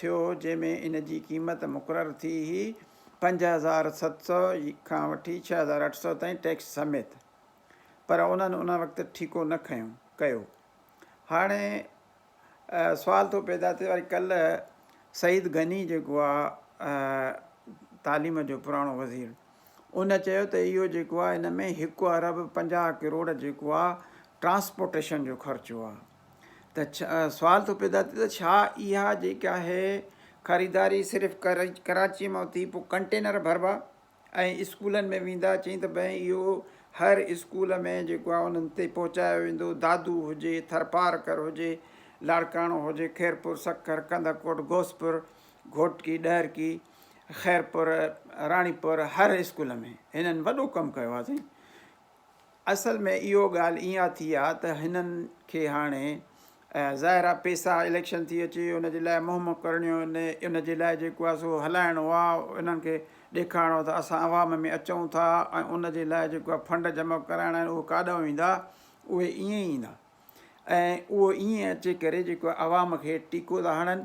ٿيو جنهن ۾ ان جي قيمت مقرر ٿي هئي پنج هزار ست سؤ کان وٺي ڇهه هزار اٺ سؤ تائين ٽيڪس سميت پر انهن ان وقت ٺيڪو نه کنيو ڪيو هاڻي سوال ٿو پيدا ٿي وري ڪلهه سعيد غني جيڪو آهي تعليم جو پراڻو وزير ان چيو ته اهو جيڪو آهي ان ۾ هڪ ارب پنجاهه ڪروڙ جيڪو آهي ٽرانسپورٽيشن جو خرچو آهي ته سوال ٿو پيدا ٿئي ته ڇا اها جيڪا آهي خريداري صرف ڪراچي مان ٿي پوء ڪنٽينر ڀربا ۽ اسڪولن ۾ ويندا چئين ته بئين اهو هر اسڪول ۾ جيڪو آهي انهن تي پهچايو ويندو دادو هجي ٿرپارڪر هجي لاڙڪاڻو هجي خيرپور سکر ڪنڌڪوٽ غوثپور گهوٽڪي ڏهرڪي خيرپور راڻيپور هر اسڪول ۾ هنن وڏو ڪم ڪيو آهي سائين اصل ۾ اهو ڳالهه اها ٿي آ ته هنن کي هاڻي ظاهر آ پيسا اليڪشن ٿي اچي ان جي لاء مهم ڪرڻيو ان ان جي لاء جيڪو آ سو هلائڻو آ انهن کي ڏيکارڻو ته اسان عوام ۾ اچون ٿا ۽ ان جي لاء جيڪو آ فنڊ جمع ڪرائڻا آهن اهو ڪاڏانهن ويندا اهي ائين ئي ايندا ۽ اهو ائين اچي ڪري جيڪو عوام کي ٽيڪو ٿا هڻن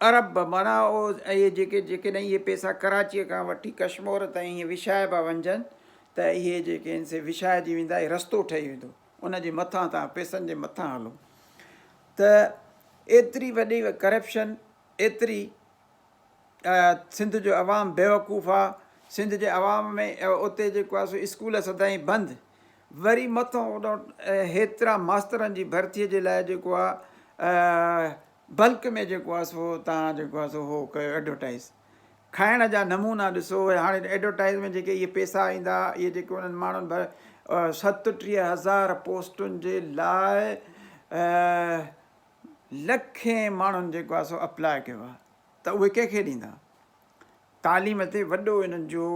ارب معنيٰ اهي جيڪي جيڪڏهن اهي پيسا ڪراچيء کان وٺي ڪشمور تائين ائين وڇائبا وڃجن ته اهي جيڪي آهن سي وڇائجي ويندا ۽ رستو ٺهي ويندو ان جي مٿان تان پيسن جي مٿان هلو ته ايتري وڏي ڪرپشن ايتري سنڌ جو عوام بيوقوف آ سنڌ جي عوام ۾ اتي جيڪو آ سو اسڪول سدائين بند وري مٿو هيترا ماسترن جي ڀرتي جي لاء جيڪو آ بلڪ ۾ جيڪو آ سو توهان جيڪو آ سو هو ڪيو ايڊورٽائيز کائڻ جا نمونا ڏسو هاڻي ايڊورٽائيز ۾ جيڪي اهي پيسا ايندا اهي جيڪي انهن ماڻهن ڀر ستٽيهه هزار پوسٽن جي لاء لکين ماڻهن جيڪو آ سو اپلاء ڪيو آ ته اهي ڪنهن کي ڏيندا تعليم تي وڏو انهن جو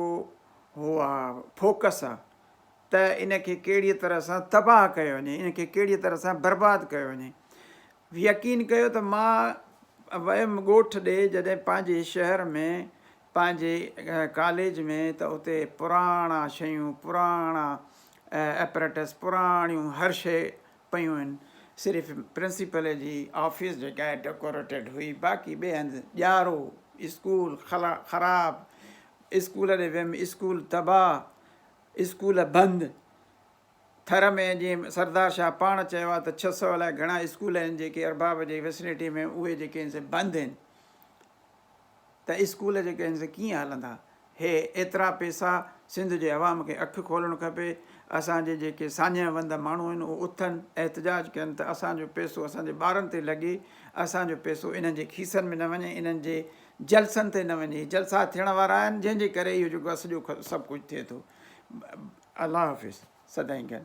هو آ فوڪس آ ته ان کي ڪهڙي طرح سان تباهه ڪيو وڃي ان کي ڪهڙي طرح سان برباد ڪيو وڃي يقين ڪيو ته مان ويم ڳوٺ ڏي جڏهن پنهنجي شهر ۾ پنهنجي ڪاليج ۾ ته اتي پراڻا شيون پراڻا ايپريٽس پراڻيون هر شي پيون هن صرف پرنسپل جي آفيس جيڪا هي ڊڪوريٽيڊ هئي باقي ٻئي هنڌ ڄارو اسڪول خراب اسڪول ڏي ويم اسڪول تباهه اسڪول بند ٿر ۾ جيئن سردار شاهه پاڻ چيو آهي ته ڇهه سؤ الاء گهڻا اسڪول آهن جيڪي ارباب جي وسنيٽي ۾ اهي جيڪي آهن سي بند آهن ته اسڪول جيڪي آهن سي ڪيئن هلندا هي ايترا پيسا سنڌ جي عوام کي اک کولڻ کپي اسان جي جيڪي ساڃهه وند ماڻهو آهن اهي اٿن احتجاج ڪن ته اسان جو پيسو اسان جي ٻارن تي لڳي اسان جو پيسو انهن جي کيسن ۾ نه وڃي انهن جي جلسن تي نه وڃي جلسا ٿيڻ وارا آهن جنهن جي ڪري اهو جيڪو آهي سڄو سڀ ڪجهه ٿئي ٿو الله حافظ سدائين گڏ.